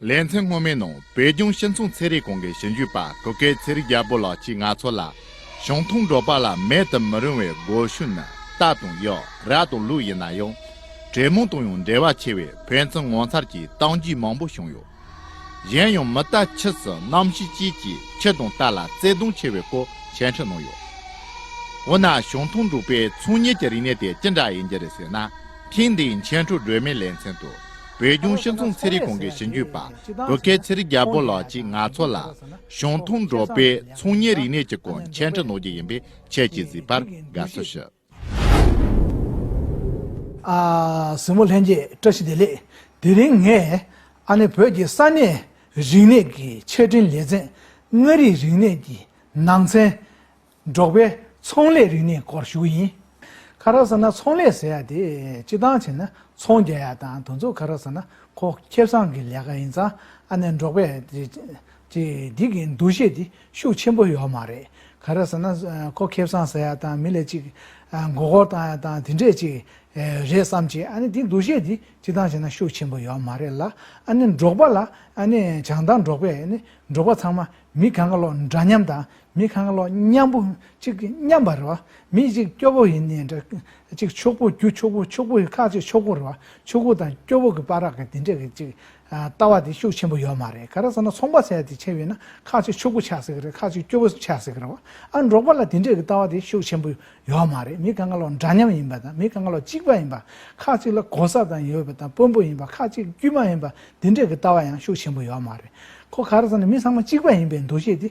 ལེ་ཚན་སྔོན་མའི་ནང་བོད་ལྗོངས་ཤིན་ཚོང་ཚལ་རིགས་གོང་གི་ཞིབ་འཇུག་པ་གུ་གེ་ཚེ་རིག་རྒྱལ་པོ་ལགས་ཀྱིས་ང་ཚོ་ལ། ཞང་ཐུང་འབྲོག་པ་ལ་མེད་དུ་མི་རུང་བའི་སྒོ་ཤུགས་ནི་རྟ་དང་གཡག་རྭ་དང་ལུག་ཡིན་ན་ཡང། གྲེ་མོང་དང་ཡང་འབྲེལ་བ་ཆེ་བས་ཕན་ཚུན་ངོ་མཚར་གྱི་སྟངས་རྒྱུད་མང་པོ་བྱུང་ཡོད། གཞན་ཡང་མི་རྟ་ཁྱི་སུ་གནམ་ཤིང་བཅས་ཀྱིས་ཁྱི་དང་རྟ་ལ་བརྩེ་དུང་ཆེ་བའི་སྐོར་མཆན་འཕྲིན་གནང་ཡོད། འོ་ན་ཞང་ཐུང་འབྲོག་པའི་ཚོང་གཉེར་གྱི་རིག་གནས་དེ་ཅི་འདྲ་ཡིན་རྒྱུ་རེད་ཟེར་ན་ཐེངས་འདིའི་མཆན་འཕྲོ་སྒྲོལ་མའི་ལེ་ཚན་དུ། བོད་ལྗོངས་ཤིང་ཚོང་ཚལ་རིགས་གོང་གི་ཞིང་ཆུ་པབོད་ཁའི་ཚལ་རིགས་རྒྱ་བོད་ལགས་ཀྱིས་ང་ཚོ་ལ། ཞང་ཐུང་འབྲོག་པའི་ཚོང་གཉེར་རིག་གནས་ཀྱི་སྐོར་མཆན་འབྲི་གནང་རྒྱུ་ཡིན་པས་ཁྱེད་ཀྱིས་གཟིགས་པར་དགའ་བསུ་ཞུ། གཟིགས་མོ་ལྷན་རྒྱས་བཀྲ་ཤིས་བདེ་ལེགས། དེ་རིང་ངས་ཨ་ནེ་བོད་ཀྱི་ས་གནས་རིག་གནས་ཀྱི་ཆེད་འཕྲིན་ལས་ཚན་ལྔ་རིག་རིག་གནས་ཀྱི་ནང་ཚན་འབྲོག་པའི་ཚོང་ལས་རིག་གནས་སྐོར་ཞུ་གི་ཡིན། ཁ་རག་ཟེར་ན་ཚོང་ལས་ཟེར་ཡ་དེ་སྤྱི་བཏང་བྱས་ན་ཚོང་རྒྱག་ཡ་དང་དུ་ཚོགས་ཁ་རག་ཟེར་ན་ཁོ་ཁེ་བཟང་གི་ལས་ཀ་ཡིན་ཙང་ཨ་ནེ་འབྲོག་པའི་དེ་སྡིག་གི་འདུ་ཤེས་དེ་ཤུགས་ཆེན་པོ་ཡོད་མ་རེད་ཁ་རག་ཟེར་ན་ཁོ་ཁེ་བཟང་ཟེར་ཡ་དང་མི་ལས་ཅིག་མགོ་སྐོར་བཏང་ཡ་དང་དེ་འདྲས་ཅིག་རེད་བསམ་གྱི་ཨ་ནེ་དེ་འདུ་ཤེས་དེ་སྤྱི་བཏང་བྱས་ན་ཤུགས་ཆེན་པོ་ཡོད་མ་རེད་ལ་ཨ་ནེ་འབྲོག་པ་ལ་ཨ་ནེ་བྱང་ཐང་འབྲོག་པའི་འབྲོག་པ་ཚང་མ་མི་གང་ག་ལོག་འདྲ་མཉམ་དང་མི་གང་ལོག་མཉམ་པོ་གཅིག་མཉམ་པར་རོ། མི་གཅིག་སྐྱོ་པོ་ཡིན་ནི་འདྲ། གཅིག་ཕྱུག་པོ་རྒྱུ་ཕྱུག་པོ་ཕྱུག་པོ་ཡི་ཁག་གཅིག་ཕྱུག་པོར་རོ། ཕྱུག་པོ་དང་སྐྱོ་པོ་གི་པ་རག་གི་དེ་འདྲས་ཀྱི་གཅིག། ལྟ་བ་དེ་ཤུགས་ཆེན་པོ་ཡོད་མ་རེད་ག་རེ་ཟེར་ན་ཚོང་པ་ཟས་དེ་ཆེ་བས་ན་ཁག་གཅིག་ཕྱུག་པོ་ཆགས་སྲིད་ཀྱི་རེད་ཁག་གཅིག་སྐྱོ་པོ་ཆགས་སྲིད་ཀྱི་རེད་བ་ཨ་འབྲོག་པ་ལ་དེ་འདྲས་ཀྱི་ལྟ་བ་དེ་ཤུགས་ཆེན་པོ་ཡོད་མ་རེད་མི་གང་ལོག་འདྲ་མཉམ་ཡིན་པ་དང་མི་གང་ལོག་གཅིག་པ་ཡིན་པ་ཁག་གཅིག་ལ་གོ་ས་དང་ཡོད་པ་དང་དཔོན་པོ་ཡིན་པ་ཁག་གཅིག་དཀྱུས་མ་ཡིན་པ་དེ་འདྲས་ཀྱི་ལྟ་བ་ཡང་ཤུགས་ཆེན་པོ་ཡོད་མ་རེད་གོ་ག་རེ་ཟེར་ན་མི་ཚང་མ་གཅིག་པ་ཡིན་པའི་འདུ་ཤེས་དེ།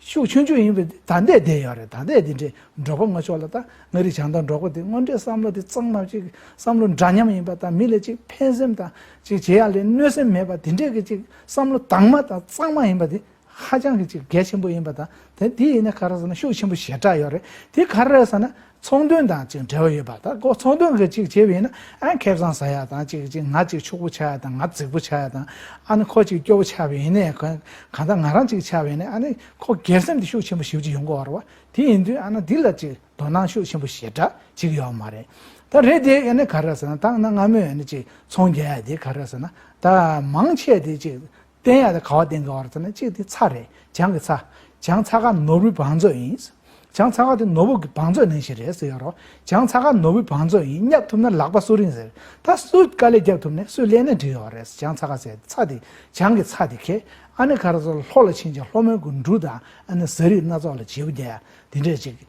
ཤུགས་ཆུང་ཆུང་ཡིན་པའི་ད་ལྟའི་བསྡད་ཡོད་རེད་ད་ལྟའི་འདི་འདྲའི་འབྲོག་པ་ངོ་ཆོག་ལ་ད་ང་རིག་བྱང་དང་འབྲོག་པ་དེ་དངོས་འབྲེལ་བསམ་བློ་དེ་གཙང་མ་ཅིག་བསམ་བློ་འདྲ་མཉམ་ཡིན་པ་དང་མི་ལ་ཅིག་ཕན་སེམས་དང་ཅིག་བྱེད་ཡ་ལས་གནོད་སེམས་མེད་པ་དེ་འདྲའི་གི་ཅིག་བསམ་བློ་དྭངས་མ་དང་གཙང་མ་ཡིན་པ་དེ་ཧ་ཅང་གི་ཅིག་གལ་ཆེན་པོ་ཡིན་པ་དང་དེ་འདི་ཡིན་ན་ག་རེ་ཟེར་ན་ཤུགས་ཆེན་པོ་ཞེ་དྲག་ཡོད་རེད་དེ་ག་རེ་ཟེར་ན། ཚོང་དོན་དང་གཅིག་འབྲེལ་བ་ཡོད་པ་དག་གོ་ཚོང་དོན་གྱི་གཅིག་བྱས་པས་ན་ཨ་ཁེ་བཟང་ཟ་ཡ་དང་གཅིག་གཅིག་ང་གཅིག་ཕྱུག་པོ་ཆགས་ཡ་དང་ང་རྫིག་པོ་ཆགས་ཡ་དང་ཨ་ནི་ཁོ་གཅིག་སྐྱོ་བོ་ཆགས་པས་ནས་གང་ལྟར་ང་རང་གཅིག་ཆགས་པས་ནས་ཨ་ནི་ཁོ་སྒེར་སེམས་དེ་ཤུགས་ཆེན་པོ་ཞིབ་ཅིག་ཡོང་གི་བར་བ་དེ་ཡིན་དུས་ཨ་ན་འདི་ལ་གཅིག་དོ་སྣང་ཤུགས་ཆེན་པོ་ཞེ་དྲག་ཅིག་ཡོད་མ་རེད་ད་རེད་དེ་ཨ་ནི་ག་རེ་ཟེར་ན་ད་ང་ང་མོས་ཨ་ནི་གཅིག་ཚོང་རྒྱག་ཡ་དེ་ག་རེ་ཟེར་ན་ད་མང་ཆེ་དེ་གཅིག་བསྟན་ཡག་དང་ག་བ་བསྟན་དགའ་བར་ཚ་ནི་གཅིག་དེ་ཚྭ་རེད་བྱང་གི་ཚྭ། བྱང་ཚྭ་ཁ་ནོར་བུའི་བང་མཛོད་ཡིན། བྱང་ཚྭ་ཁ་དེ་ནོར་བུ་གི་བང་མཛོད་ནང་ཞིག་རེད་ཟེར་ཡོད་རོགས་བྱང་ཚྭ་ཁ་ནོར་བུའི་བང་མཛོད་ཡིན་བསྙབ་ཐུབ་ན་ལག་པ་སུ་རིང་ཟེར་ད་སུས་དཀའ་ལས་རྒྱབ་ཐུབ་ནས་སུས་ཀླད་ནད་འདྲི་ཡོད་རེད་ཟེར་བྱང་ཚྭ་ཁ་ཟེར་ཚྭ་དེ་བྱང་གི་ཚྭ་དེ་ཁེ་ཨ་ནི་ག་རེ་ཟོ་ལྷོ་ལ་ཕྱིན་ཅིང་ལྷོ་མོན་གྱི་འབྲུ་དང་ཨ་ནི་ཟ་རིགས་སྣ་ཚོགས་ལ་བྱེད་པོ་རྒྱ་ཡ་དེ་འདྲས་ཅིག་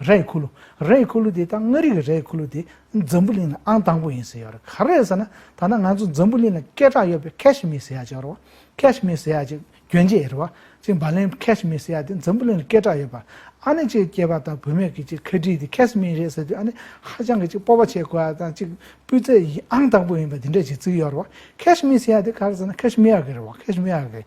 རས་ཡི་ཁུ་ལུ། རས་ཡི་ཁུ་ལུ་དེ་དང་མངའ་རིས་ཀྱི་རས་ཡི་ཁུ་ལུ་དེ་འཛམ་བུ་གླིང་ན་ཨང་དང་པོ་ཡིན་ཟེར་ཡོད་རེད། ག་རེད་ཟེར་ན་ད་ནངས་ང་ཚོ་འཛམ་བུ་གླིང་ལ་སྐད་གྲགས་ཡོད་པའི་ཁཱེཤ་མིར་ཟེར་ཡག་ཅིག་རོ། ཁཱེཤ་མིར་ཟེར་ཡག་ཅིག་གྱོན་ཆས་ཡིན་རེད་བ། ཅིག་བར་ལེན་ཁཱེཤ་མིར་ཟེར་ཡག་དེ་འཛམ་བུ་གླིང་ལ་སྐད་གྲགས་ཡོད་པ། ཨ་ནི་ཅིག་སྐྱེས་པ་དང་བུད་མེད་ཀྱི་ཅིག་ཁཱེ་ཏྲི་དེ་ཁཱེཤ་མིར་རེད་ཟེར་དུས་ཨ་ནི་ཧ་ཅང་གི་ཅིག་སྤོབས་པ་བྱེད་དགོས་པ་དང་ཅིག་སྤུས་ཚད་ཨང་དང་པོ་ཡིན་པ་དེ་འདྲ་ཞིག་བརྩིས་ཡོད་རེད་བ། ཁཱེཤ་མིར་ཟེར་ཡག་དེ་ག་རེ་ཟེར་ན་ཁཱེཤ་མི་ཡག་གི་རེད་བ། ཁཱེཤ་མི་ཡག་གི་རེད།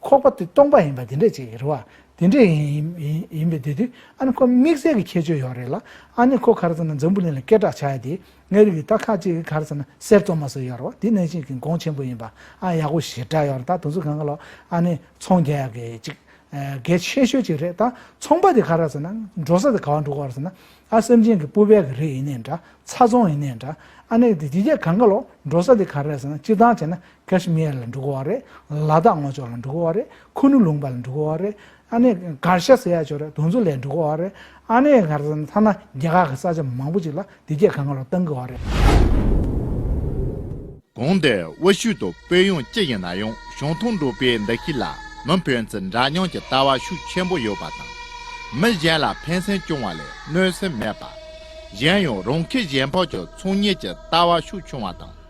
ཁོག་པ་དེ་སྟོང་པ་ཡིན་པ་དེ་འདྲས་ཅིག་རེད་བ། དེ་འདྲས་ཡིན་པའི་དེ་དུས་ཨ་ནི་ཁོ་དམིགས་བསལ་གྱི་ཁྱད་ཆོས་ཡོད་རེད་ལ། ཨ་ནི་ཁོ་གར་ཟེར་ན་འཛམ་བུ་གླིང་ལ་སྐད་གྲགས་ཆགས་ཡ་དེ་ངའི་རིགས་ཀྱི་སྟག་ཁ་ཅིག་གིས་གར་ཟེར་ན་གསེར་བཙོ་མ་ཟེར་ཡོད་རེད་བ་དེ་ནང་བཞིན་གྱི་དགོངས་ཆེན་པོ་ཡིན་པ་ཨ་ཡག་པོ་ཞེ་དྲག་ཡོད་རེད་ད་དུང་ཚུལ་གང་གི་ལོག་ཨ་ནི་ཚོང་རྒྱ་ཡག་གི་ཅིག་གལ་ཆེ་ཤོས་ཅིག་རེད་ད་ཚོང་པ་དེ་ག་ར་ཟེར་ན་འགྲོ་ས་དེ་ག་བ་འགྲོ་གི་བ་རེད་ཟེར་ན་ཨ་སེམས་ཅན་གྱི་སྤུ་བལ་གྱི་རིགས་ཡིན་ནའི་འདྲ་ཚ་ཚོང་ཡིན་ནའི་འདྲ་ཨ་ནི་དེ་དེ་རྒྱ་གང་གི་ལོག་འགྲོ་ས་དེ་ག་ར་ཟེར་ན་སྤྱིར་བཏང་བྱས་ན་ཀཱ་ཤི་མེར་ལ་འབྲུག་གོ་བ་རེད། ལ་དྭགས་སྔོ་ལྗོངས་ལ་འབྲུག་གོ་བ་རེད། ཁུ་ནུ་ལུང་པ་ལ་འབྲུག་གོ་བ་རེད། ཨ་ནེ་ཀཱར་ཤ་སེ་ཡ་ཇོ་རེད་དུང་ཆུ་ལའི་འབྲུག་གོ་བ་རེད། ཨ་ནེ་ཀཱར་ཟེར་ན་ཐ་ན་རྒྱ་གར་གྱི་ས་ཆ་མང་པོ་ཅིག་ལ་དེ་སྐད་ག་ང་རུ་གཏང་གི་བ་རེད། གོང་དུ་དབུ་བཞུགས་དུ་དཔོན་ཡོངས་ཅི་ཡིན་ན་ཡང་གཞུང་ཐུང་འགྲོ་པའི་འདུ་ཤེས་ལ་མི་ཕན་ཚུལ་འདྲ་མཉམ་གྱི་ལྟ་བ་ཤུགས་ཆེན་པོ་ཡོད་པ་དང། མི་གཞན་ལ་ཕན་སེམས་སྐྱོང་བ་ལས་གནོད་སེམས་མེད་པ། གཞན་ཡང་རང་ཁེ་གཞན་ཕོག་གྱི་ཚོང་གཉེར་གྱི་ལྟ་བ་ཤུགས་ཆུང་བ་དང།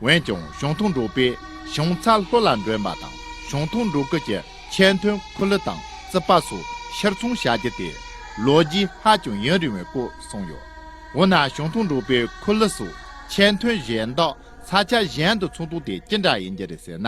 འོན་ཀྱང་གཞུང་ཐུང་འབྲོག་པའི་བྱང་ཚ་ལྷོ་ལ་འདྲེན་པ་དང་གཞུང་ཐུང་འབྲོག་ཁུལ་གྱི་ཆེས་མཐོའི་ཁུ་ལུ་དང་རྩིད་པ་སོགས་ཕྱིར་འཚོང་བྱ་རྒྱུ་དེ་ལོ་རྒྱུས་ཧ་ཅང་ཡུན་རིང་བའི་སྐོར་གསུངས་ཡོད། འོ་ན་གཞུང་ཐུང་འབྲོག་པའི་ཁུ་ལུ་སོགས་ཆེས་མཐོའི་གཞན་དག་ས་ཆ་གཞན་དུ་འཚོང་དོན་དེ་ཅི་འདྲ་ཡིན་རྒྱུ་རེད་ཟེར་ན།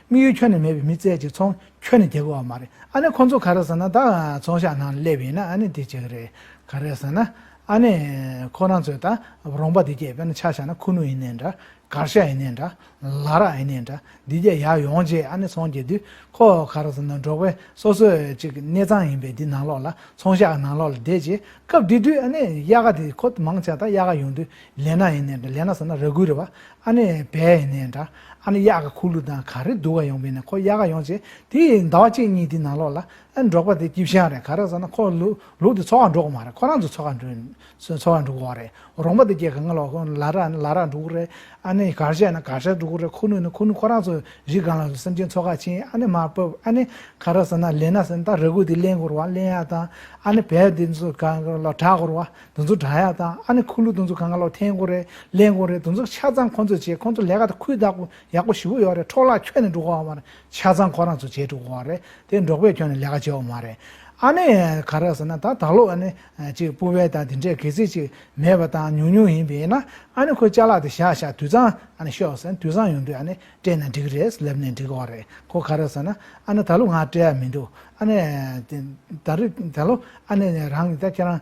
དམིགས་ཡུལ་ཁྱོན་ནས་མེད་པའི་མི་བཙལ་ཅིག་ཚོང་ཁྱོན་ནས་རྒྱལ་པོ་བ་མ་རེད་ཨ་ནེ་ཁོང་ཚོ་ག་རེ་ཟེར་ན་ད་ཚོང་ཤག་ནང་སླེབས་ཡིན་ན་ཨ་ནེ་དེ་བྱེད་ཀྱི་རེད་ག་རེ་ཟེར་ན་ཨ་ནེ་ཁོ་རང་ཚོས་ད་རོང་པ་འདི་བསྐྱེད་པས་ན་ཆ་བཞག་ན་ཁུ་ནུ་ཡིན་ནའི་འདྲ་གར་ཤ་ཡིན་ནའི་འདྲ་ལ་རག་ཡིན་ནའི་འདྲ་འདི་བརྒྱད་ཡག་ཡོང་རྗེས་ཨ་ནེ་ཚོང་བསྐྱེད་དུས་ཁོ་ག་རེ་ཟེར་ན་འབྲོག་པའི་སོ་སོའི་གཅིག་གནས་ཚང་ཡིན་པས་འདི་ནང་ལོགས་ལ་ཚོང་ཤག་གི་ནང་ལོགས་ལ་བསྡད་རྗེས་སྐབས་དེ་དུས་ཨ་ནེ་གཡག་དེ་ཁོ་མང་ཆགས་ད་གཡག་ཡོང་དུས་ལེ་ན་ཡིན་ནའི་འདྲ་ལེ་ན་ཟེར་ན་ར་གུའི་ར་བ་ཨ་ནེ་བས་ནས་འདྲ་ཨ་ནེ་གཡག་གི་ཁུག་ལུ་དང་ག་རེ་འདུག་ག་ཡོང་བས་ནས་ཁོ་གཡག་ག་ཡོང་བྱས་དེ་ཡི་ཟླ་བ་གཅིག་གཉིས་དེ་ནང་ལོག་ལ་ཨེ་འབྲོག་པ་དེ་སྐྱིབས་ཤང་རེད་ག་རེ་བཟོ་ན་ཁོ་ལུག་ལུག་དེ་འཚོ་བ་འགྲོ་གི་མ་རེད་ཁོ་རང་ཚོ་འཚོ་ག་འགྲོ་འཚོ་བ་འགྲོ་གི་འོག་རེད་རོང་པ་དེ་སྐྱེ་ག་ང་ལོག་གི་ལ་ར་ལ་ར་འགྲོ་གི་རེད་ཨ་ནེ་གར་བཞག་ན་གར་བཞག་འགྲོ་གི་རེད་ཁུག་ལུ་ན་ཁུག་ལུ་ཁོ་རང་ཚོ་རི་སྒང་ལ་སེམས་ཅན་འཚོ་ག་བྱས་ཨ་ནེ་མ་བབས་ཨ་ནེ་ག་རེ་བཟོ་ན་ལེན་ན་ཟེར་ན་ད་ར་གུ་དེ་གླེན་དགོས་ར་བ་གླེན་ཡག་དང་ཨ་ནེ་བས་དེ་ཚོ་ག་ལ་གྲག་དགོས་ར་བ་དུ་འཛུགས་དྲ་ཡག་དང་ཨ་ནི་ཁུ་ལུ་དུ་འཛུགས་གང་ག་ལོག་འཐེན་དགོ་རེད་ལེན་དགོ་རེད་དུ་འཛུགས་ཆ་ཚང་ཁོང་ཚོས་བྱེད་ཁོང་ཚོ་ལས་ཀ་དང་ཁུལ་བདག་པོ་ཡག་པོ་ཞི་བོ་ཡོག་རེད་འཕྲོག་བརླག་ཁྱོན་ནས་འགྲོ་གོ་བ་མ་རེད་ཆ་ཚང་ཁོ་རང་ཚོ་བྱེད་འགྲོ་གོ་བ་རེད་དེ་འབྲོག་པས་ཁྱོན་ནས་ལས་ཀ་བྱེད་བ་མ་རེད་ཨ་ནི་ག་རེད་ཟེར་ན་ད་ད་ལོ་ཨ་ནི་ཅིག་སྤུ་བལ་དང་དེ་འདྲས་གེ་ཚིག་ཅིག་མེད་པ་དང་ཉུང་ཉུང་ཡིན་པས་ན་ཨ་ནི་ཁོས་ལྕགས་ལག་དེ་བཞག་བཞག་དུད་ཚང་ཨ་ནི་ཤོག་ཟེར་ན་དུད་ཚང་ཡོང་དུས་ཨ་ནི་སྤྲད་ན་འགྲིག་རེད་ལབ་ནས་འགྲིག་གོ་བ་རེད་གོ་ག་རེད་ཟེར་ན་ཨ་ནི་ད་ལོ་ང་སྤྲད་ཡ་མི་འདུག་ཨ་ནི་ད་རེད་ད་ལོ་ཨ་ནི་རང་གིས་ད་ཁྱེད་རང་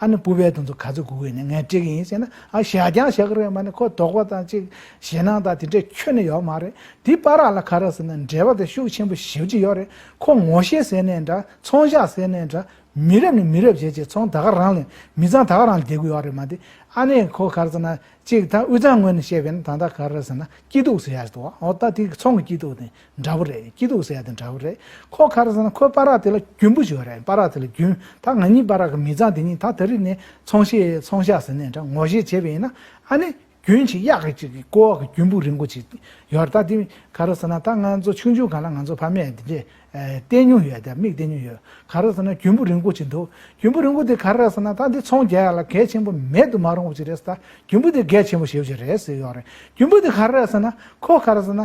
ཨ་ནི་སྤུ་བའི་དོན་དུ་ག་ཚོད་སྒུག་གི་ནི་ངས་སྤྲད་གི་ཡིན་ཟེར་ན་ཨ་ཞལ་རྒྱང་ཞག་རེ་མ་ནི་ཁོ་དོགས་པ་དང་གཅིག་ཞེད་སྣང་དང་དེ་འདྲས་ཁྱོན་ནས་ཡོག་མ་རེད་དེ་པ་རག་ལ་ཁ་རག་ཟེར་ན་འབྲེལ་བ་དེ་ཤུགས་ཆེན་པོ་ཞིབ་ཀྱི་ཡོག་རེད་ཁོ་ངོ་ཤེས་ཟེར་ནས་འདྲ་ཚོང་བཞག་ཟེར་ནས་འདྲ་མི་རབས་ནས་མི་རབས་བྱས་ཀྱི་ཚོང་ད་ག་རང་ལས་མི་ཚང་ད་ག་རང་ལས་བསྡད་དགོས་ཡོག་རེད་མ་དེ་ཨ་ནི་ཁོ་ག་རེ་ཟེར་ན་གཅིག་ད་དབུས་གཙང་ངོས་ནས་བཤད་པས་ན་ད་ད་ག་རེ་ཟེར་ན་སྐྱིད་སྡུག་ཟེར་ཡག་ཏུ་ཨོ་ད་དེ་ཚོང་གི་སྐྱིད་སྡུག་དེ་འདྲ་བོ་རེད་སྐྱིད་སྡུག་ཟེར་ཡ་དེ་འདྲ་བོ་རེད་ཁོ་ཁ་རེ་ཟ་ན་ཁོའི་པ་རག་དེ་ལ་རྒྱུན་བུ་ཞིག་རེད་པ་རག་དེ་ལ་རྒྱུན་ད་ང་གཉིས་པ་རག་གི་མི་ཚང་དེ་གཉིས་ད་ད་རིག་ནས་ཚོང་ཤེས་ཚོང་ཤ་ཟེར་ནས་འདྲ་ངོ་བཞེས་བྱེད་པ་ཡིན་ན་ཨ་ནི་རྒྱུན་ཆེ་གཡག་གི་ཅིག་གི་ཀོ་བ་གི་རྒྱུན་བུ་རིང་བོ་ཅིག་ཡོད་རེད་ད་དེ་ག་རེ་ཟ་ན་ད་ང་ཚོ་ཆུང་ཆུང་ག་ལ་ང་ཚོ་ཕ་མས་དེ་འདྲས་བལྟས་མྱོང་ཡོད་དེ་མིག་བལྟས་མྱོང་ཡོད་ག་རེ་ཟ་ན་རྒྱུན་བུ་རིང་བོ་ཅིག་འདུག་རྒྱུན་བུ་རིང་བོ་དེ་ག་རེ་རེད་ཟེར་ན་ད་འདི་ཚོང་རྒྱག་ཡ་ལ་གལ་ཆེན་པོ་མེད་དུ་མ་རུང་བ་ཅིག་རེད་ཟེར་ད་རྒྱུན་བུ་དེ་གལ་ཆེན་པོ་ཞེ་བོ་ཅིག་རེད་ཟེར་ཡོད་རེད་རྒྱུན་བུ་དེ་ག་རེ་རེད་ཟེར་ན་ཁོ་ག་རེ་ཟ་ན་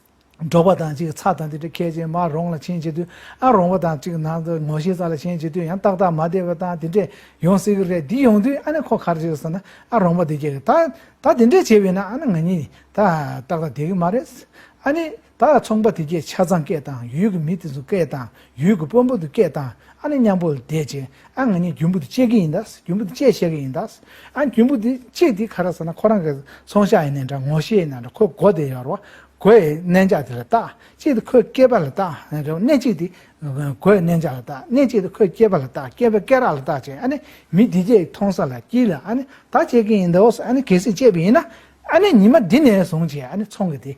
འགྲོགས་པ་དང་ཅིག་ཚགས་དང་དེ་འདྲ་ཁད་ཅིང་མ་རོངས་ལ་ཆེན་བྱེད་དུས་ཨ་རོངས་པ་དང་ཅིག་ནང་དུ་ངོ་ཤེས་ཚ་ལ་ཆེན་བྱེད་དུས་ཡང་ཏག་ཏག་མ་བསྡད་པ་དང་དེ་འདྲས་ཡོང་སྲིད་གི་རེད་འདི་ཡོང་དུས་ཨ་ནི་ཁོ་གར་བྱེད་ཟེར་ན་ཨ་རོངས་པ་འདི་བྱེད་གི་ད་ད་དེ་འདྲས་བྱེད་པས་ན་ཨ་ནི་ང་གཉིས་ད་ཏག་ཏག་བསྡད་གི་མ་རེད་ཨ་ནི་ད་ཚོང་པ་དེ་གས་ཆ་ཚང་སྐད་དང་ཡུལ་གྱི་མི་དེ་ཚོ་སྐད་དང་ཡུལ་གྱི་དཔོན་པོ་དེ་སྐད་བཏང། ཨ་ནི་མཉམ་པོ་ལ་བསྡད་ཅིང་ཨ་ང་གཉིས་རྒྱུན་བུ་དེ་གཅད་ཀྱི་ཡིན་ད། རྒྱུན་བུ་དེ་གཅད་བཤད་ཀྱི་ཡིན་ད། ཨ་རྒྱུན་བུ་དེ་གཅད་དེ་ག་ར་ཟེར་ན་ཁོ་རང་གི་ཚོང་ཤག་ཡིན་ནའི་འདྲ་ངོ་ཤེས་ཡིན་ནའི་འདྲ་ཁོའི་སྒོ་དེ་ཡར་བ། སྒོའི་གནས་འཇགས་དེ་ལ་བཏགས། གཅིག་དེ་ཁོའི་སྐེད་པ་ལ་བཏགས། གནས་གཅིག་དེ་སྒོའི་གནས་འཇགས་ལ་བཏགས། གནས་གཅིག་དེ་ཁོའི་སྐེད་པ་ལ་བཏགས་སྐེད་པའི་སྐེད་རགས་ལ་བཏགས་ཅིང་ཨ་ནི་མི་འདི་སྐད་མཐོང་ས་ལ་བསྐྱིལ་ལ་ཨ་ནི་ད་བཅད་ཀྱི་ཡིན་ད་ཨོ་ཨ་ནི་གལ་སྲིད་བཅད་པ་ཡིན་ན་ཨ་ནི་ཉི་མ་འདི་ནས་བཟུང་བཅད་ཨ་ནི་ཚོང་གི་དེ་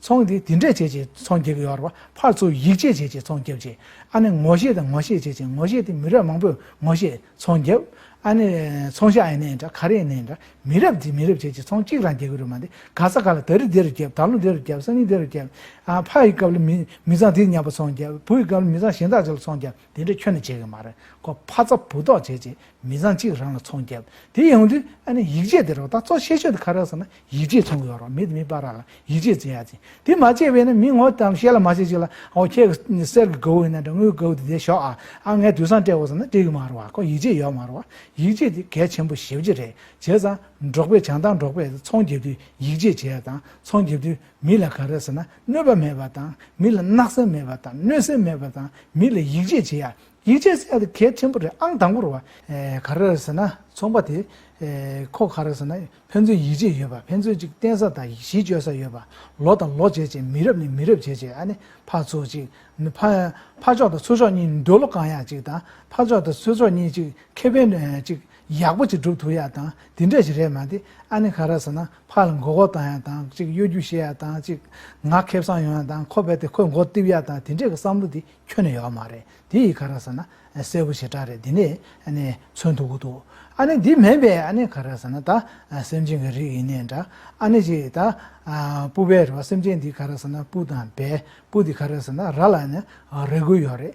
ཚོང་དེ་དེ་འདྲས་བྱེད་ཅེས་ཚོང་རྒྱག་གི་ཡོད་རེད་བ། ཕར་ཚུར་ཡིག་ཆས་བྱེད་ཅེས་ཚོང་རྒྱབ་ཅེས། ཨ་ནི་ངོ་ཤེས་དང་ངོ་ཤེས་བྱེད་ཅེས་ངོ་ཤེས་དེ་མི་རབས་མང་པོས་ངོ་ཤེས་ཚོང་རྒྱབ། ཨ་ནི། ཚོང་ཤ་ཨེ་ནི་འདྲ་ཁ་རི་ཨེ་ནི་འདྲ། མི་རབས་དེ་མི་རབས་བྱེད་ཅེས་ཚོང་གཅིག་རང་རྒྱག་གི་རེད་མ་འདི་ག་ས་ག་ལ་ད་རི་དེ་རུ་རྒྱབ་ད་ལོ་དེ་རུ་རྒྱབ་སང་ཉིན་དེ་རུ་རྒྱབ། ཕ་ཡི་སྐབས་ལ་མི་མི་ཚང་དེ་ཉམས་པ་ཚོང་རྒྱབ་བུ་ཡི་སྐབས་ལ་མི་ཚང་གཞན་དག་བྱས་ལ་ཚོང་རྒྱབ། དེ་འདྲ་ཁྱོད་ནི་བྱེད་གི་མ་རེད་ཁོ་ཕ་ཚ་བུ་ཐོག་བྱེད་ཅེས་མི་བཟང་གཅིག་རང་ལ་ཚོང་བརྒྱབ། དེ་ཡོང་དུས་ཨ་ནི་ཡིག་ཆས་དེ་རོགས་ད་གཙོ་ཆེ་ཤོས་དེ་ག་རེད་ཟེར་ན་ཡིག་ཆས་ཚོང་གི་ཡོད་རོགས་མི་དེ་མི་སྤ་ར་ལ་ཡིག་ཆས་འཛིན་ཡ་ཅིང་དེ་མ་བྱས་པས་ན་མི་ངོ་དང་ཤེས་ལ་མ་བྱེད་ཅིག་ལ་ཨོ་ཁྱེད་གི་གསེར་གི་གའུ་ཡིན་ན་འདྲ་དངུལ་གའུ་དེ་དེ་ཞོག་ཨ་ཨ་ངས་དུས་སང་སྤྲད་དགོས་ཟེར་ན་སྤྲད་གི་མ་རེད་བ་ཁོ་ཡིག་ཆས་ཡོད་མ་རེད་བ་ཡིག་ཆས་དེ་གལ་ཆེན་པོ་ཞེ་བརྒྱད་རེད་བྱས་ཙང་འབྲོག་པས་བྱང་ཐང་འབྲོག་པས་ཚོང་བརྒྱབ་དུས་ཡིག་ཆས་བྱས་དང་ཚོང་བརྒྱབ་དུས་མི་ལ་ག་རེད་ཟེར་ན་གནོད་པ་མེད་པ་དང་མི་ལ་བརྣག་སེམས་མེད་པ་དང་གནོད་སེམས་མེད་པ་དང་མི་ལ་ཡིད་ཆེས་བྱེད། ཡིད་ཆེས་བྱེད་དེ་གལ་ཆེན་པོ་རེད་ཨང་དང་པོར་བ། ག་རེ་རེད་ཟེར་ན་ཚོང་པ་དེ་ཁོ་ག་རེ་ཟེར་ན་ཕན་ཚུན་ཡིད་ཆེས་ཡོད་པ་ཕན་ཚུན་གཅིག་བསྟེན་ས་དང་གཞི་བཅོལ་ས་ཡོད་པ་ལོ་དང་ལོ་བྱས་བྱས་མི་རབས་ནས་མི་རབས་བྱས་བྱས་ཨ་ནི་ཕར་ཚུར་གཅིག་ཕར་ཕྱོགས་དང་ཚུར་ཕྱོགས་གཉིས་འདོད་བློ་གང་ཡག་གཅིག་དང་ཕར་ཕྱོགས་དང་ཚུར་ཕྱོགས་གཉིས་གཅིག་ཁེ་ཕན་གཅིག་ཡག་པོ་གཅིག་སྒྲུབ་ཐུབ་ཡག་དང་དེ་འདྲས་ཞིག་རེད་མ་དེ་ཨ་ནི་ག་རེ་ཟེར་ན་ཕར་ལ་མགོ་སྐོར་བཏང་ཡག་དང་གཅིག་གཡོ་སྒྱུ་བྱེད་ཡག་དང་གཅིག་ངག་ཁེབས་སང་ཡོང་ཡག་དང་ཁོ་བལ་ཏེ་ཁོའི་མགོ་གཏིབ་ཡག་དང་དེ་འདྲས་ཀྱི་བསམ་བློ་དེ་ཁྱོན་ནས་ཡོག་མ་རེད་དེ་ཡིག་ག་ར་ཟེར་ན་གསལ་བོ་ཞེ་དྲག་རེད་དེ་ནས་ནས་མཚོན་ཐུབ་གི་འདུག་ཨ་ནེ་འདི་མེད་པས་ཨ་ནེ་ག་ར་ཟེར་ན་ད་སེམས་ཅན་གྱི་རིགས་ཡིན་ནས་འདྲ་ཨ་ནེ་ཅེས་ད་སྤུ་བལ་རེད་བ་སེམས་ཅན་འདི་ག་ར་ཟེར་ན་སྤུ་དང་བལ་སྤུ་འདི་ག་ར་ཟེར་ན་ར་ལ་ནས་རེ་དགོས་ཡོག་རེད་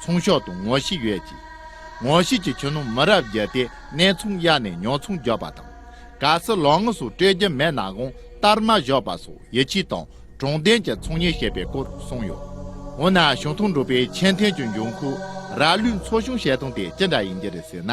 ཚོང་ཤོག་དང་ངོ་ཤེས་ཡོད་ཅིང། ངོ་ཤེས་ཀྱི་ཁྱོན་ནང་མི་རབས་བརྒྱད་དེ་ནས་ཚོང་གཡར་ནས་ཉོ་ཚོང་རྒྱག་པ་དང། ག་སི་ལོ་ངོ་སོགས་སྤྲོད་རྒྱུ་མེད་ན་གང་ལྟར་མ་བཞག་པ་སོགས་ཡིད་ཆེས་དང་དྲང་བདེན་གྱི་ཚོང་གཉེར་བྱེད་པའི་སྐོར་གསུངས་ཡོད། འོ་ན་ཞིང་ཐོག་འབྲུག་པའི་ཆེས་མཐོའི་ཆུ་འབྱུང་ཁུལ་ར་ལུའི་མཚོ་གཞུང་བཤད་སྟངས་དེ་ཅི་འདྲ་ཡིན་གྱི་རེད་ཟེར་ན།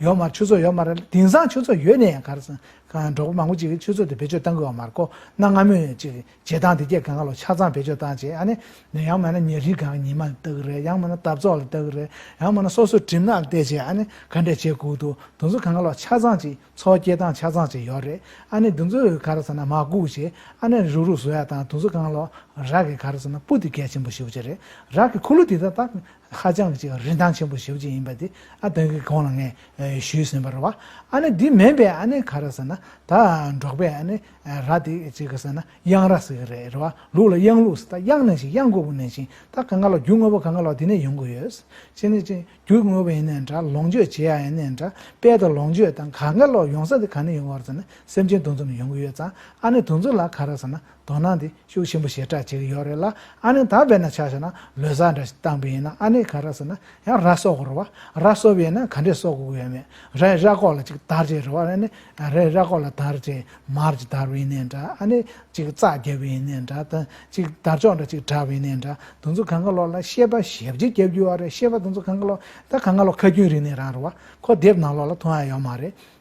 ཡོད་མ་རེད་ཆུ་ཚོད་ཡོད་མ་རེད་དེང་སང་ཆུ་ཚོད་ཡོད་ནས་ཡང་གར་སོང་འབྲོག་པ་མང་པོ་ཅིག་གིས་ཆུ་ཚོད་དེ་བེད་སྤྱོད་བཏང་དགོས་བ་མ་རེད་ཁོ་ན་སྔ་མོ་ནས་ཅིག་བྱེད་སྟངས་དེ་སྐྱེ་གང་ག་ལོ་ཆ་ཚང་བེད་སྤྱོད་བཏང་རྗེས་ཨ་ནི་ནས་ཡང་མ་ན་ཉེ་རིང་གང་ག་ཉིན་མ་ལ་བལྟ་གི་རེད་ཡང་མ་ན་འདབ་ཚོགས་ལ་བལྟ་གི་རེད་ཡང་མ་ན་སོ་སོའི་གྲིབ་ནག་ལ་བལྟས་རྗེས་ཨ་ནི་ག་འདྲས་བྱེད་དགོས་འདུག་དེ་ཚོ་གང་ག་ལོ་ཆ་ཚང་ཅིག་འཚོ་སྐྱེལ་སྟངས་ཆ་ཚང་ཅིག་ཡོད་རེད་ཨ་ནི་དེ་ཚོ་གར་སོང་ན་མ་སྒུག་རྗེས་ཨ་ནི་རུག་རུག་བཟོ་ཡ་དང་དེ་ཚོ་གང་ག་ལོ་རག་གིས་གར་སོང་ན་སྤུ་དེ་གལ་ཆེན་པོ་ཞིག་ཡོད་ཀྱི་རེད་རག་གི་ཁུ་ལུ་དེ་དག་ཧ་ཅང་གི་རིན་ཐང་ཆེན་པོ་ཞེ་བོ་ཅིག་ཡིན་པ་དེ་ཨ་དོན་གྱི་གོང་ལ་ངས་ཞུས་ཟིན་པར་བ་ཨ་ནི་འདི་མིན་པས་ཨ་ནི་ག་རེ་ཟེར་ན་ད་འབྲོག་པས་ཨ་ནི་ར་དེ་ཅིག་གི་ཟེར་ན་གཡང་ར་ཟེར་གི་རེད་རེད་བ་ལུག་ལ་གཡང་ལུག་ཟེར་ད་གཡང་ནས་ཤིང་གཡང་དགོས་པོ་ནས་ཤིང་ད་ག་འགའ་ལ་རྒྱུ་དངོས་པོ་ག་འགའ་ལ་དེ་ནས་ཡོང་གི་ཡོད་ཅེ་ནས་ཅེ་རྒྱུ་དངོས་པོ་ཡིན་ནས་འདྲ་ལོངས་སྤྱོད་བྱེད་ཡ་ཡིན་ནས་འདྲ་དཔལ་དང་ལོངས་སྤྱོད་དང་ག་འགའ་ལ་ཡོང་ས་དེ་ག་ནས་ཡོང་བར་ཟེར་ན་སེམས་ཅན་དུ་འཛོམས་ནས་ཡོང་གི་ཡོད་ཙང་ཨ་ནི་དུ་འཛོམས་ལ་ག་རེ་ཟེར་ན་དོ་སྣང་དེ་ཤུགས་ཆེན་པོ་ཞེ་དྲག་བྱེད་ཀྱི་ཡོད་རེད་ལ་ཨ་ནེ་ད་བས་ན་ཆ་ཤས་ན་ལོས་ཟ་འདྲ་ཞིག་བཏང་པས་ཡིན་ན་ཨ་ནེ་ག་ར་ཟེར་ན་ཡང་ར་གསོ་དགོས་རེད་བ་ར་གསོ་བས་ན་ག་འདྲས་གསོ་དགོས་ཀྱི་ཡོད་མེད་རའི་ར་ཁོག་ལ་ཅིག་དར་བྱས་རེད་བ་ཨ་ནེ་རའི་ར་ཁོག་ལ་དར་བྱས་མར་ཅིག་དར་བས་ཡིན་ནའི་འདྲ་ཨ་ནེ་ཅིག་རྩ་རྒྱབ་བས་ཡིན་ནའི་འདྲ་དང་ཅིག་དར་ཅོག་འདྲ་ཅིག་གྲགས་བས་ཡིན་ནའི་འདྲ་དུང་ཚོ་གངྒཱ་ལོག་ལ་ཤེས་པ་ཞེ་བརྒྱད་བརྒྱབ་རྒྱུ་བ་རེད་ཤེས་པ་དུང་ཚོ་གངྒཱ་ལོག་ད་གངྒཱ་ལོག་ཁ་རྒྱུན་རིང་ནས་རང་རེད་བ་ཁོ་དེབ་ནང་ལོག་ལ་མཐོང་ཡ་ཡོད་མ་རེད་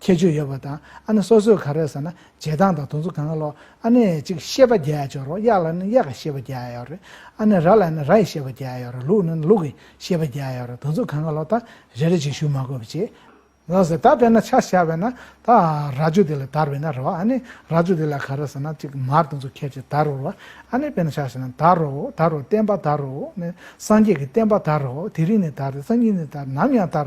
ཁྱད་ཆོས་ཡོད་པ་དང་ཨ་ན་སོ་སོས་ག་རེ་ཟེར་ན་བྱེད་སྟངས་དང་དུང་ཚོ་གང་ལོག་ཨ་ན་ཡི་ཅིག་ཤེས་པ་རྒྱལ་ཡག་ཅོག་རོགས་གཡག་ལ་ནི་གཡག་གི་ཤེས་པ་རྒྱལ་ཡག་ཡོག་རེད་ཨ་ན་ར་ལ་ནི་ར་ཡི་ཤེས་པ་རྒྱལ་ཡག་ཡོག་རེད་ལུག་ནི་ལུག་གི་ཤེས་པ་རྒྱལ་ཡག་ཡོག་རེད་དུང་ཚོ་གང་ག་ལོག་ད་རེ་རེ་བྱེད་ཞུ་མ་དགོས་པ་བྱེད་ལོག་ཟེར་ད་དཔེར་ན་ཆ་ཤ་བས་ན་ད་ར་ཅོ་དེ་ལ་དར་བས་ན་རོགས་ཨ་ནི་ར་ཅོ་དེ་ལ་ག་རེ་ཟེར་ན་ཅིག་མར་དུང་ཚོ་ཁྱེར་ཅིག་དར་རོ་རོགས་ཨ་ནི་དཔེར་ན་ཆ་ཤ་ན་དར་རོ་དར་རོ་བསྟན་པ་དར་རོ་ནི་སངས་རྒྱས་ཀྱི་བསྟན་པ་དར་རོ་དེ་རིང་ནས་དར་སང་ཉིན་ནས་དར་ནམ་ཡང་དར་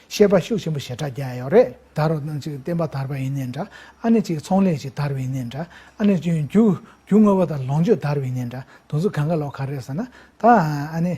ཤེས་པ་ཤུགས་ཆེན་པོ་ཞེ་དྲག་རྒྱག་ཡོད་རེད། དར་རོ་ནང་ཅིག་བསྟན་པ་དར་བ་ཡིན་ནའི་འདྲ་ཨ་ནེ་ཅིག་ཚོང་ལས་ཅིག་དར་བ་ཡིན་ནའི་འདྲ་ཨ་ནེ་ཅིག་རྒྱུ་རྒྱུ་དངོས་པོ་དང་ལོངས་སྤྱོད་དར་བ་ཡིན་ནའི་འདྲ་དུང་ཚོ་གང་ག་ལོག་ག་རེད་ཟེར་ན་ད་ཨ་ནེ་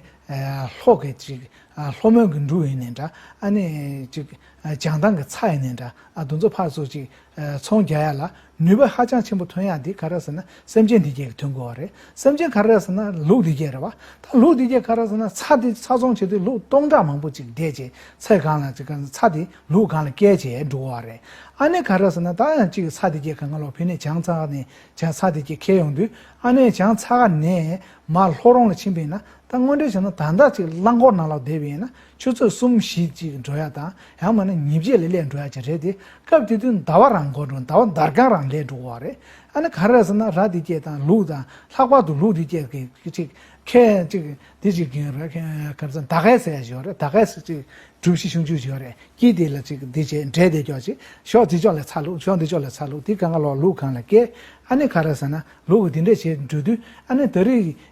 ལྷོ་གི་ཅིག་ལྷོ་མོན་གི་འབྲུག་ཡིན་ནའི་འདྲ་ཨ་ནེ་ཅིག་བྱང་ཐང་གི་ཚ་ཡིན་ནའི་འདྲ་ཨ་དུང་ཚོ་ཕར་ཚུར་ཅིག་ཚོང་རྒྱག་ཡ་ལ་ནུས་པ་ཧ་ཅང་ཆེན་པོ་ཐོན་ཡག་འདི་ག་ར་ཟེར་ན་སེམས་ཅན་འདི་བརྒྱད་ཀྱི་ཐོན་དགོས་བ་རེད་སེམས་ཅན་ག་ར་ཟེར་ན་ལུག་འདི་བརྒྱད་རེད་བ་ད་ལུག་འདི་བརྒྱད་ག་ར་ཟེར་ན་ཚ་འདི་ཚ་ཚོང་བྱེད་དུས་ལུག་སྟོང་ཕྲག་མང་པོ་ཅིག་བསྡད་རྗེས་ཚེ་གང་ལ་ཅིག་ཚ་འདི་ལུག་གང་ལ་བསྐྱལ་རྗེས་འགྲོ་བ་རེད་ཨ་ནེ་ག་ར་ཟེར་ན་ད་ཡང་ཅིག་ཚ་འདི་བརྒྱད་ག་ང་ལོག་ཕེ་ནས་བྱང་ཚ་ཁ་ནས་བྱང་ཚ་འདི་བརྒྱད་ཁེལ་ཡོང་དུས་ཨ་ནེ་བྱང་ཚ་ཁ་ནས་མར་ལྷོ་རོང་ལ་ཕྱིན་པས་ན་ད་དངོས་འབྲེལ་བྱས་ན་ད་འདྲ་ཅིག་རླངས་འཁོར་ནང་ལོག་བསྡད་པས་ན་ཆུ་ཚོད་གསུམ་བཞི་གཅིག་འགྲོ་ཡ་དང་ཡང་མ་ན་ཉིན་བརྒྱད་ལས་ལས་འགྲོ་ཡ་གཅིག་རེད་དེ་སྐབས་དེ་དུས་ཟླ་བ་རང་འགོར་འགྲོ་ཟླ་བ་འདར་གང་རང་ལས་འགྲོ་བ་རེད་ཨ་ནི་ག་རེ་རེད་ཟེར་ན་ར་འདི་སྐྱེས་དང་ལུག་དང་ལྷག་པར་དུ་ལུག་འདི་སྐྱེས་གི་གཅིག་ཁལ་གཅིག་འདི་གཅིག་གིན་རེད་ཁལ་ག་རེ་ཟེར་ཟླ་གས་ཟེར་ཡ་ཞིག་ཡོད་རེད་ཟླ་གས་གཅིག་གྲུབ་བཞི་གཞུང་བཅུ་ཞིག་ཡོད་རེད་དཀྱིལ་དེ་ལ་གཅིག་འདི་བྱས་འདྲེ་དེ་སྐྱོག་ཅིག་ཞོག་དེ་ཕྱོགས་ལས་ཚ་ལུག་ཞོག་འདི་ཕྱོགས་ལས་ཚ་ལུག་དེ་ག་ང་ལོག་ལུག་གང་ལ་སྐྱེས་ཨ་ནི་ག་རེ་ཟེར་ན་ལུག་གི་འདི་འདྲས་བྱས་འགྲོ་དུས་ཨ་ནི་ད་རིས་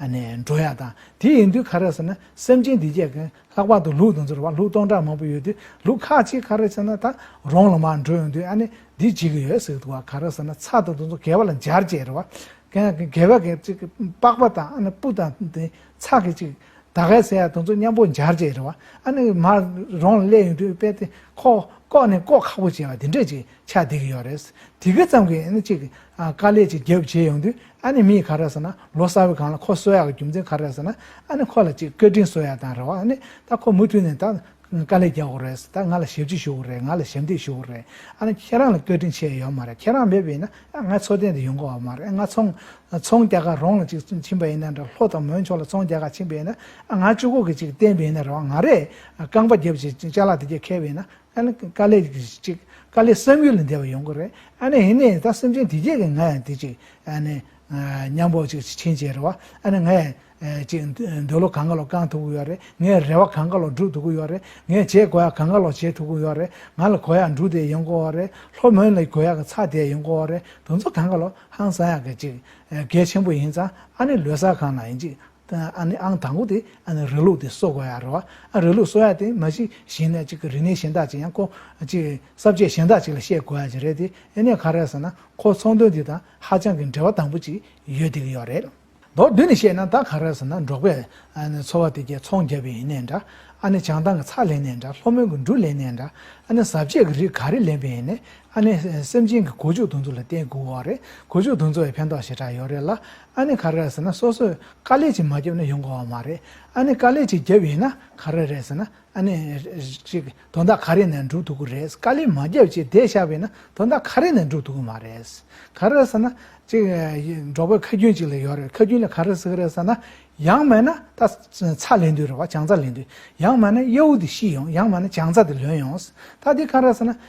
ནས་འགྲོ་ཡག་དང་དེ་ཡིན་དུས་ཁ་རས་ཟེར་ན་སེམས་ཅན་འདི་བརྒྱད་ཀྱིས་ལྷག་པར་དུ་ལུག་དང་ཚུར་བ་ལུག་སྟོང་ཕྲག་མང་པོ་ཡོད་དུས་ལུག་ཁ་ཅིག་ཁ་རས་ཟེར་ན་ད་རོང་ལ་མར་འགྲོ་ཡོང་དུས་ཨ་ནེ་འདི་བྱེད་ཀྱི་ཡོད་ཟེར་དུ་བ་ཁ་རས་ཟེར་ན་ཚ་དང་དུ་ཚོ་གས་བ་ལ་འབྱར་བྱས་རེད་བ་ཀན་ཀན་གས་བ་གས་ཅིག་པགས་པ་དང་ཨ་ནེ་སྤུ་དང་དེ་ཚ་གས་ཅིག་ད་གས་ཟེར་ཡ་དུ་ཚོ་མཉམ་པོ་འབྱར་བྱས་རེད་བ་ཨ་ནེ་མར་རོང་ལ་སླེབས་ཡོང་དུས་དཔེ་དེ་ཁོག་ལྐོག་ནས་ལྐོག་ཁག་པོ་བྱས་བ་དེ་འདྲས་ཅིག་ཆགས་བསྡད་ཀྱི་ཡོད་རེད་དེ་གས་ཙམ་གས་ཨ་ནེ་ཅིག་དཀའ་ལས་ཅིག་རྒྱབ་བྱས་ཡོང་དུས་ཨ་ནི་མི་ཡིས་ག་རེ་ཟེར་ན་ལོ་གསར་བའི་གང་ལ་ཁོ་གསོལ་ཡག་གི་རྒྱུ་མཚན་ག་རེ་ཟེར་ན་ཨ་ནི་ཁོ་ལ་ཅིག་སྐད་འཕྲིན་གསོལ་ཡག་དང་རེ་བ་ཨ་ནི་ད་ཁོ་མུ་མཐུད་ནས་ད་དཀའ་ལས་རྒྱག་གོ་རེད་ད་ང་ལ་ཞབས་ཕྱི་ཞུ་གོ་རེད་ང་ལ་ཞབས་འདེགས་ཞུ་གོ་རེད་ཨ་ནི་ཁྱེད་རང་ལ་སྐད་འཕྲིན་ཆད་ཡོད་མ་རེད་ཁྱེད་རང་མེད་པ་ཡིན་ན་ཨ་ང་འཚོ་རྟེན་དུ་ཡོང་གོ་བ་མ་རེད་ཨ་ང་ཚོང་ཚོང་རྒྱག་ག་རོང་ལ་ཅིག་ཕྱིན་པ་ཡིན་ན་འདྲ་ལྷོ་དང་མོན་མཆོག་ལ་ཚོང་རྒྱག་ག་ཕྱིན་པ་ཡིན་ན་ཨ་ང་ཅུ་གོ་གི་ཅིག་བསྟན་པ་ཡིན་ན་རེ་བ་ང་རེད་རྐང་པ་རྒྱབ་ཅིག་ཅལ་ལག་དེ་རྒྱབ་མཁས་པ་ཡིན་ན་ཨ་ནི་དཀའ་ལས་གཅིག་དཀའ་ལས་བསམ་ཡུལ་ལས་འདས་པ་ཡོང་གི་རེད་ཨ་ནི་ཧི་ནས་ད་སེམས་ཅན་དེ་རྗེས་ཀྱི་ང་ཡང་དེ་ཅིག་ཨ་ནི་སྙམ་བོ་ཅིག་ཕྱིན་བྱས་རེད་བ་ཨ་ནི་ང་ཡང་ཅིག་འདོད་བློ་གང་ག་ལོག་བསྐང་ཐུབ་ཀི་ཡོད་རེད་ངས་རེ་བ་གང་ག་ལོག་སྒྲུབ་ཐུབ་ཀི་ཡོད་རེད་ངས་བྱེད་དགོས་ཡག་གང་ག་ལོག་བྱེད་ཐུབ་ཀི་ཡོད་རེད་ང་ལ་གོ་ཡག་འབྲུ་དེ་ཡོང་གི་འོ་རེད་ལྷོ་མོན་ལ་གོ་ཡག་གི་ཚགས་དེ་ཡོང་གི་འོ་རེད་དུ་ཚོ་གང་ག་ལོག་ཧང་སང་ཡག་གི་ཅིག་གལ་ཆེན་པོ་ཡིན་ཙང་ཨ་ནི་ལོས་ས་གང་ན་ཡིན་ཅིག་ཨ་ནི་ཨང་དང་པོ་དེ་ཨ་ནི་རི་ལུགས་དེ་གསོ་དགོས་ཡ་རོ། ཨ་རི་ལུགས་གསོ་ཡ་དེ་མ་གཞི་གཞན་ནས་གཅིག་གི་རིག་གནས་གཞན་དག་ཅིག་ཡང་ཁོ་གཅིག་གསར་བརྗེ་གཞན་དག་ཅིག་ལ་བཤད་དགོས་ཡ་ཅིག་རེད་དེ་ཨེ་ནས་ག་རེ་ཟེར་ན་ཁོ་ཚོང་དོན་དེ་དང་ཧ་ཅང་གི་འབྲེལ་བ་དམ་པོ་ཅིག་ཡོད་བསྡད་ཀྱི་ཡོད་རེད། མདོར་བསྡུས་ནས་བཤད་ན་ད་ག་རེ་ཟེར་ན་འབྲོག་པའི་ཨ་ནི་འཚོ་བ་དེ་རྒྱལ་ཚོང་རྒྱབ་པའི་ཡིན་ནས་འདྲ་ཨ་ནི་བྱང་ཐང་གི་ཚགས་ལེན་ནས་འདྲ་ལྷོ་མོན་གྱི་འབྲུ་ལེན་ནས་འདྲ་ཨ་ནི་གཟབ་རྒྱས་ཀྱི་རིགས་ག་རེ་ལེན་པའི་ཡིན་ནས་ཨ་ནི་སེམས་ཅན་གྱི་གོ་ཆུ་དུང་ཚོ་ལ་བརྟེན་དགོས་འོ་རེད་གོ་ཆུ་དུང་ཚོ་བའི་ཕན་ཐོགས་ཞེ་དྲག་ཡོད་རེད་ལ་ཨ་ནི་ག་རེ་རེད་ཟེར་ན་སོ་སོས་དཀའ་ལས་ཅིག་མ་བརྒྱབ་ན་ཡོང་དགོས་བ་མ་རེད་ཨ་ནི་དཀའ་ལས་ཅིག་བརྒྱབ་ཡོད་ན་ག་རེ་རེད་ཟེར་ན་ཨ་ནི། ཅིག་དོ་ཟླ་ག་རེ་ནས་འགྲུབ་ཐུབ་ཀི་རེད་དཀའ་ལས་མ་བརྒྱབ་ཅིག་བསྡད་བཞག་པས་ན་དོ་ཟླ་ག་རེ་ནས་འགྲུབ་ཐུབ་ཀི་མ་རེད། ག་རེ་ཟེར་ན། ཅིག་འབྲོག་པའི་ཁ་རྒྱུན་ཅིག་ལ་ཡོད་རེད་ཁ་རྒྱུན་ལ་ག་རེ་ཟེར་གི་རེད་ཟེར་ན། ཡང་མེད་ན་ད་ཚ་ལེན་དུས་རེད་བ་བྱང་ཚ་ལེན་དུས་ཡང་མེད་ན་གཡའུ་དེ་ཤི་ཡོང་ཡང་མེད་ན་བྱང་ཚ་དེ་ལོན་ཡོང། ད་དེ་ག་རེ་ཟེར་ན།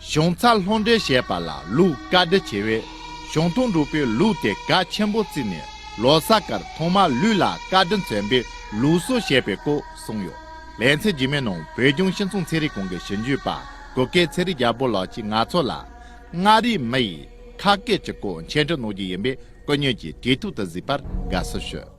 གཞུང་ཚར་ལྷོང་འདྲེན་བྱས་པ་ལ་ལུགས་བཀའ་འདྲི་བྱས་པས་གཞུང་ཐུང་འབྲུག་པའི་ལུགས་དེ་ག་ཆེན་པོ་བརྩིས་ནས་ལོ་གསར་སྐར་ཐོག་མར་ལུས་ལ་བཀའ་དྲིན་མཚོན་པའི་ལུགས་སྲོལ་བྱས་པའི་སྐོར་གསུངས་ཡོད། ལན་ཚྭའི་རྒྱུད་མའི་ནང་བོད་ལྗོངས་ཤིང་ཚོང་ཚན་རིག་ཁང་གི་ཞིབ་འཇུག་པ་གུ་གེ་ཚེ་རིང་རྒྱལ་པོ་ལགས་ཀྱིས་ང་ཚོ་ལ་མངའ་རིས་མི་ཡིས་ཁ་སྐད་ཀྱི་སྐོར་མཆན་འགྲེལ་གནང་རྒྱུ་ཡིན་པས་སྐུ་ཉོན་གྱིས་དུས་ཐོག་ཏུ་གཟིགས་པར་དགའ་བསུ་ཞུ།